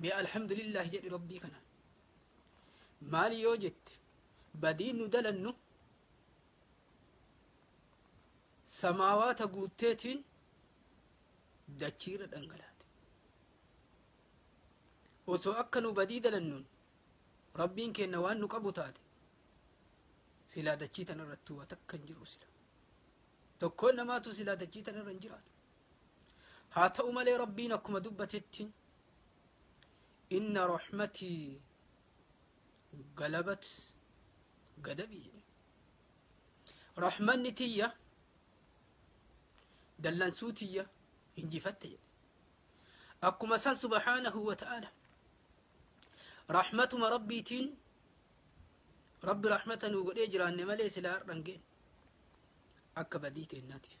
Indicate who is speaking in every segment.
Speaker 1: mee alhamdulillahi jedhi rabbii kana maali yoo jette badiin nu dalannu samaawaata guutteetiin dachiirra dhangalaate osoo akka nu badii dalannuun rabbiin keenna waan nu qabu taate silaa dachii tanarratti waa takka hin jiru sila tokkoon namaatu silaa dachii tanarra hin jiraatu haa ta'u malee rabbiin akkuma dubbatetti inna rahmatii galabat gadabii jedhe rahmanni tiyya dallansuu tiyya injifatte jedhe akkuma san subhaanahu wa ta'aala rahmatuma rabbiitiin rabbi rahmata nuu godhee jiraanne malee silaa har'an geenye akka badii teennaatiif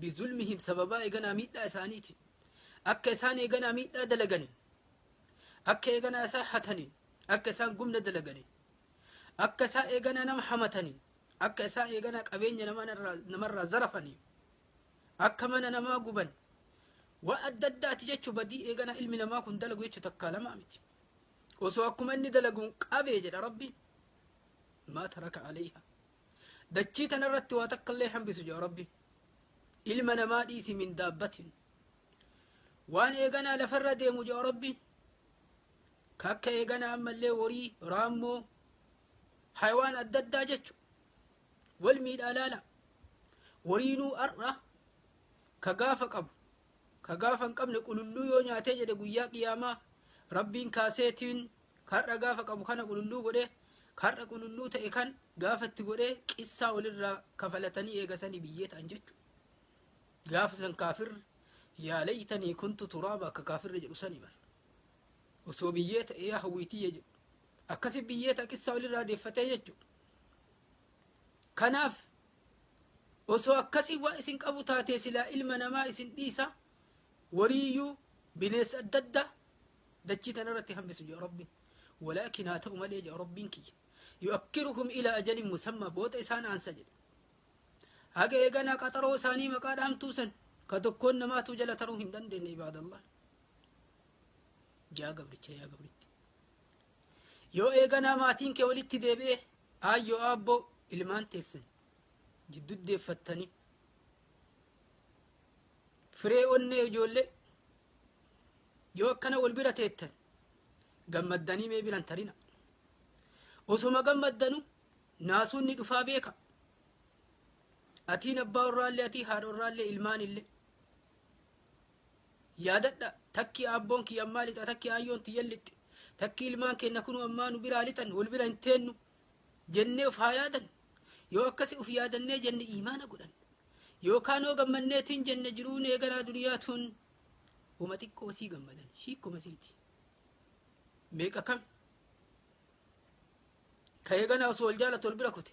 Speaker 1: bizulmihim sababaa eeganaa miidhaa isaaniitiin akka isaan eeganaa miidhaa dalaganii akka eeganaa isaa hatanii akka isaan gumna dalaganii akka isaa eeganaa nama hamatanii akka isaa eeganaa qabeenya namarraa zarafanii akka mana namaa guban waa adda addaati jechuu badii eeganaa ilmi namaa kun dalagu jechuu takkaa lamaa miti osoo akkuma inni dalaguun qabee jedha rabbiin maa taraka aleeyha dachii tana irratti waa takka illee hambisu jedha rabbi ilma namaa dhiisi min daabbatin waan eeganaa lafarra deemu jedha rabbi kakka eeganaa ammallee horii raammoo haywaan adda addaa jechu wal miidhaa laala horiinuu har'a ka gaafa qabu Ka gaafa hin qabne qululluu yoo nyaatee jedhe guyyaa qiyaamaa Rabbiin kaaseetiin kar'a gaafa qabu kana qululluu godhe kar'a qululluu ta'e kan gaafa itti godhee qissaa walirraa kafalatanii eegasanii biyyee ta'an jechuudha. Gaafa san kaafirri yaa laytanii kuntu turaaba akka kaafirri jedhu sanii bara. Osoo biyyee ta'e yaa hawwiitiyya jedhu. Akkasi biyyee ta'a qissaa walirraa deeffatee jechuudha. Kanaaf Osoo akkasi waan isin qabu taatee silaa ilma namaa isin dhiisa wariiyyuu bineessa adda addaa dachii tanarratti hambisu jedha rabbiin walaakin haa ta'u malee jedha rabbiin kiyya yu'akkiruhum ila ajalin musammaa booda isaan aansa jedha haga eeganaa qaxaroo isaanii maqaa dhaamtuu san ka tokkoon namaatu jala taruu hin dandeenye ibaadallah jaa gabricha yaa gabritti Yoo eeganaa maatiin kee walitti deebi'e, aayyoo aabboo ilmaan teessan jiddu deeffattanii firee onnee ijoollee yoo akkana wal bira teettan gammaddanii mee biran tarina. Osoma gammaddanu naasuun ni dhufaa beeka. Atiin abbaa warraallee atii haadha warraallee ilmaanillee. Yaadadha, takki aabboon kiyya ammaa lixa, takki aayyoon tiyyan lixxi, takki ilmaan keenna kunuu ammaa nu biraa lixan, wol bira hin teennu jennee uf haa yaadannu. Yoo akkasi uf yaadannee jenne iimaana godhanna. Yookaa noo gammannee tin jenne jiruun eegalaa duniyaa tun woma xiqqoo sii gammadan, hiikkoma siiti. Meeqa kam ka eeganaa osoo wol jaalatu wol bira kute.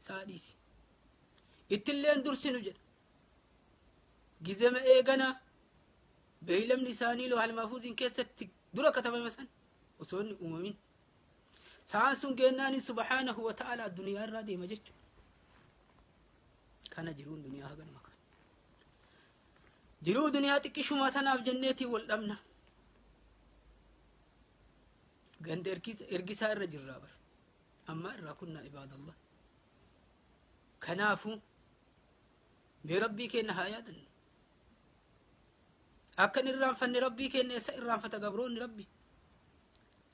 Speaker 1: isaa dhiisi. Ittilleen dursinu jedha. Gizema eeganaa beeylamni isaanii loohal maafuuziin keessatti dura katabame san osoo inni uumamin. Sa'aan sun geennaanin subhaanahu wa ta'ala duniyaa irraa deema jechuudha. Kana jiruun duniyaa haganuma kana. Jiruu duniyaa xiqqishumaa tanaaf jenneetiin wal dhabna. Ganda ergisaa irra jirraa bara. ammaa irraa kunnaa ibaadallah kanaafu mee rabbii keenna haa yaadannu akkan irraanfanne rabbii keenna eessa irraanfata gabroonni rabbi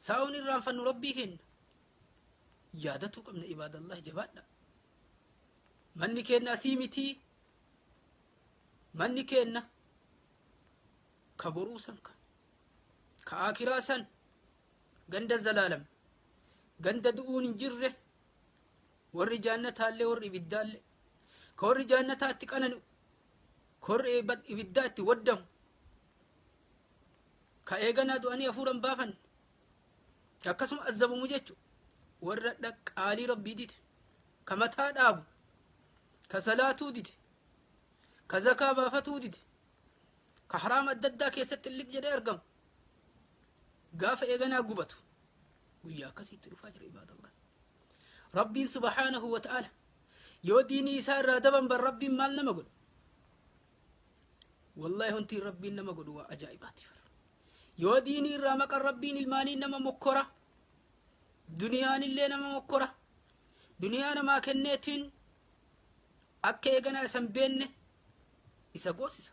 Speaker 1: saa'uun irraanfannu rabbii keenna yaadatuu qabna ibaadallah jabaadha manni keenna asii mitii manni keenna ka boruu san ka ka aakiraa san Ganda zalaalam. Ganda du'uun hin jirre, warri jaannataallee warri ibiddaallee. Ka warri jaannataa itti qanani'u, ka warri eebba- ibiddaa itti waddamu, ka eeganaa du'anii hafuuran baafanne, ka akkasuma azzabamu jechu warra dha- qaalii rabbii dide, ka mataa dhaabu, ka salaatuu dide, ka zakaa baafatuu dide, ka haraama adda addaa keessatti liq jedhee argamu. gaafa eeganaa gubatu guyyaa akkasii itti dhufaa jira ibaadallah rabbiin subhaanahu wa ta'ala yoo diinii isaa irraa daban bar rabbiin maal nama godhu wallahi wanti rabbiin nama godhu waa ajaa'ibaati yoo diinii irraa maqan rabbiin ilmaanii nama mokkora duniyaan illee nama mokkora duniyaa namaa kenneetiin akka eeganaa isan beenne isa goosisa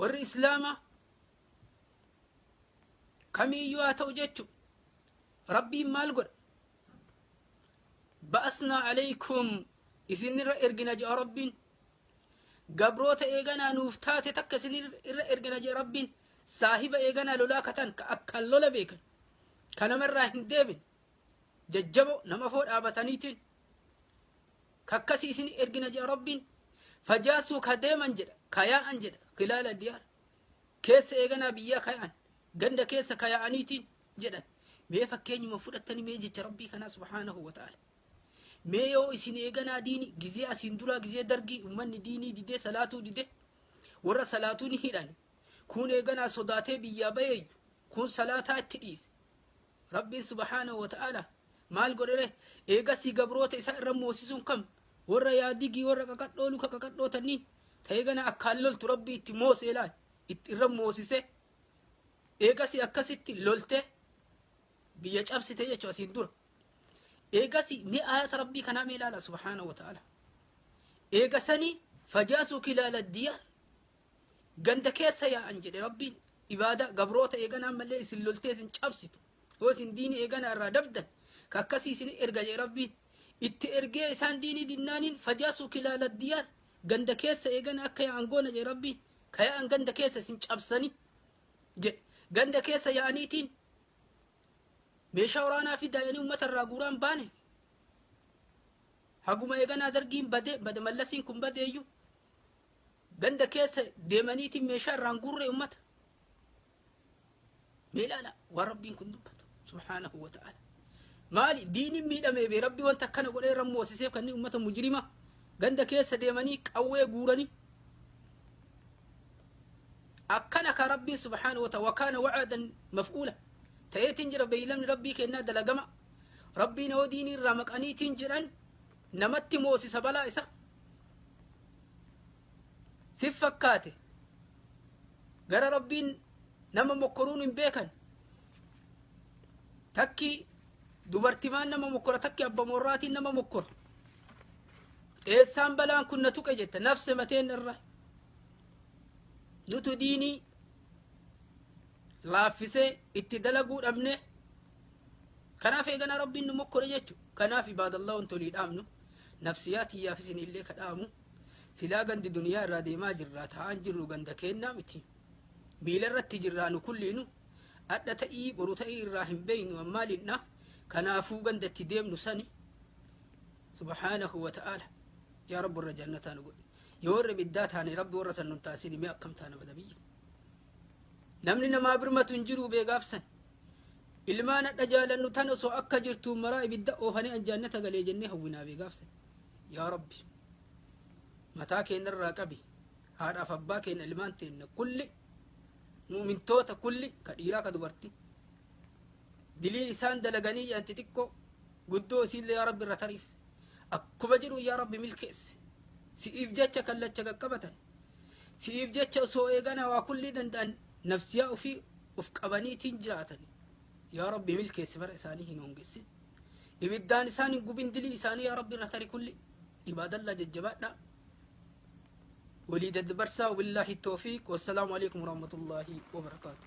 Speaker 1: warri islaamaa kamiiyyuu haa ta'u jechu rabbiin maal godha ba'asnaa alaykum isinirra ergina je'a rabbiin gabroota eeganaa nuuf taate takka isinirra ergina je'a rabbiin saahiba eeganaa lolaa katan ka akkaan lola beekan ka namarraa hin deebin jajjaboo nama foo dhaabataniitiin Kakkasi isini ergina jedha Rabbiin. Fajaassuu ka deeman jedha, ka yaa'an jedha, khilaala diyaar. Keessa eeganaa biyyaa ka yaa'an, ganda keessa ka yaa'aniitiin jedhan. Mee fakkeenyuma fudhattani mee jecha Rabbii kanaa subhaanahu wa ta'ala. Mee yoo isin eeganaa diini gizee asiin duraa gizee dargii ummanni diinii didee salaatuu didee warra salaatuu ni hidhani. Kuun eeganaa sodaatee biyyaa bayeeyyu kuun salaataa itti dhiise. Rabbiin subhaanahu wa ta'aalaa maal godhe ree? Eegasii gabroota isaa irra moosisuun kam? Warra yaa digii warra qaqadhoo luka qaqadhoo tanniin ta eegana akkaan loltu Rabbii itti moosee laal itti irra moosisee eegasii akkasitti loltee biyya cabsite jechu asiin dura. Eegasii mee ayata Rabbii kanaa mee laala subhaanahu wa ta'aalaa. Eegasanii fajaasuu kilaala diyaar ganda keessa yaa'an jedhe rabbiin ibaada gabroota eegana ammallee isin loltee isin cabsitu yoo isin diini eegana irraa dabdan ka akkasii isin erga jedhe rabbiin itti ergee isaan diinii dinnaaniin fajaasuu kilaala diyaar ganda keessa eegana akka yaa'an goona jedhe rabbiin ka yaa'an ganda keessa isin cabsanii jedhe ganda keessa yaa'aniitiin meeshaa waraanaa fi daa'anii uummata irraa guuraan baane haguma eeganaa dargiin bade bade mallasiin kun badeeyyu Ganda keessa deemaniitiin meeshaa irraan guurree ummata. Mee ilaala waan rabbiin kun dubbatu subhaanahu wa ta'ala. Maali diiniin miidhamee bee rabbi wanta akkana godhee irra moosiseef kanneen ummata mujrima ganda keessa deemanii qawwee guuranii. Akkana ka rabbiin subhaanahu wa ta'ala wakaana wa'aadan maf'uula. Ta'eetiin jira beeylamni rabbii kennaa dalagama. Rabbiin yoo diinii irraa maqaniitiin jedhan namatti moosisa balaa isaa sif fakkaate gara rabbiin nama mokkoruun hin beekan takki dubartimaan nama mokkora takki abba morraatiin nama mokkora eessaan balaan kun na tuqe jetta nafse mateen irra nutu diinii laaffisee itti dalaguu dhabne Kanaaf eeganaa Rabbiin nu mokkore jechu. Kanaaf ibaadallah wanti olii dhaamnu nafsiyaa tiyyaaf isin illee ka dhaamu silaa gandi duniyaa irraa deemaa jirraa taa'aan jirru ganda keennaa miti. Miila irratti jirraa nu kulliinu adha ta'ii boru ta'ii irraa hin beeynu ammaaliidha. Kanaafuu ganda itti deemnu sani subhaanahu wa ta'aala yaa rabbi irra jannataa nu godhe. Yoo irra biddaa taane rabbi warra san nun taasini mee akkam taana badabiyya. Namni namaa birmatu hin jiruu bee gaafsan. Ilmaan hadha jaalannu tan osoo akka jirtuun maraa ibidda oofanii an jaannata galee jennee hawwinaa bee gaafsan. Yaa Rabbi mataa keenyarraa qabi haadhaaf abbaa keenya ilmaan teenna kulli mu'mintoota kulli ka dhiiraa ka dubartii. Dilii isaan dalaganii jedhan xixiqqoo guddoo isiillee yaa Rabbi irra tariif. Akkuma jedhu yaa Rabbi milkeesse. Si'iif jecha kallacha qaqqabatan. Si'iif jecha osoo eegana waa kullii danda'an nafsiyaa ufii uf qabaniitiin jiraatan. Yaa Rabbi milkeessi bara isaanii hin hongessin. Ibiddaan isaan hin gubin dilii isaanii yaa Rabbi irra tari kulli. Ibaadallaa jajjabaadhaa. Walii daddabarsaa wabillaahi toofiiq. Wassalaamu alaikum warahmatullaahi wabarakaatuh.